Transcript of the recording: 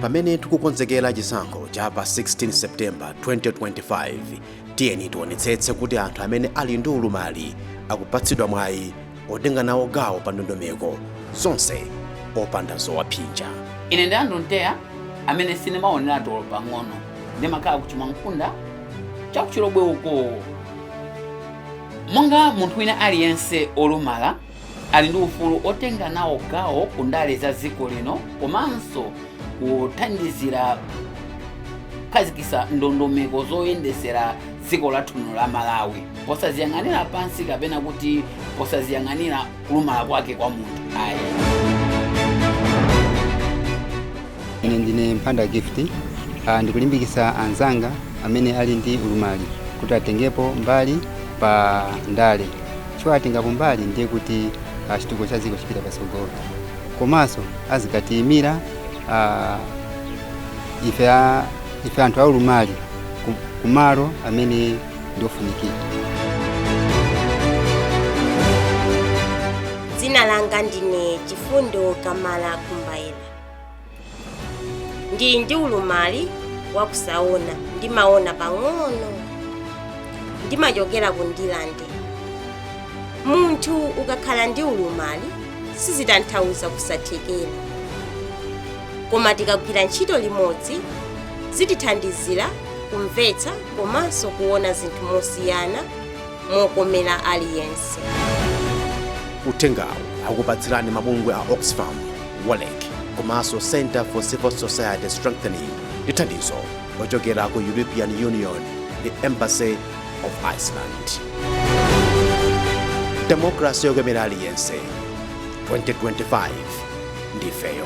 pamene tikukonzekera chisankho cha pa 16 septemba 2025 tiyeni tionetsetse kuti anthu amene ali ndi ulumali akupatsidwa mwayi otenga nawo gawo pa ndondomeko zonse opanda zowaphinja ine ndi andrew nteya amene sindimaoneratu olo pang'ono ndimakhala ku Chimwankhunda cha ku Chilobwe uko monga munthu wina aliyense olumala ali ndi ufulu otenga nawo gawo ku ndale za dziko lino komanso kuthandizira kukhazikitsa ndondomeko zoyendetsera dziko lathu lino la malawi posaziyang'anira pansi kapena kuti posaziyang'anira kulumala kwake kwa munthu ayi ine ndine mphanda gift uh, ndikulimbikitsa anzanga amene ali ndi ulumali kuti atengepo mbali pa ndale chifukwa atengapo mbali ndiye kuti ah, chitukuko cha dziko chipita patsogolo komanso azikatiyimira ah, ife a- ife anthu aulumali ku- kumalo amene ndiofunikira dzina langa ndine chifundo kamala kumbaira Ndili ndi ulumali wa kusaona, ndimaona pang'ono. Ndimachokera ku Ndirande. Munthu ukakhala ndi ulumali sizitanthauza kusathekera. Koma tikagwira ntchito limodzi zitithandizira kumvetsa komanso kuona zinthu mosiyana. mokomera aliyense. Uthengawu akupatsirani mabungwe a Oxfam, WOLREC komanso Centre for Civil Society Strengthening ndi thandizo lochokera ku European Union ndi Embassy of Iceland. Demokrasi yokomera aliyense 2025 ndifeyo.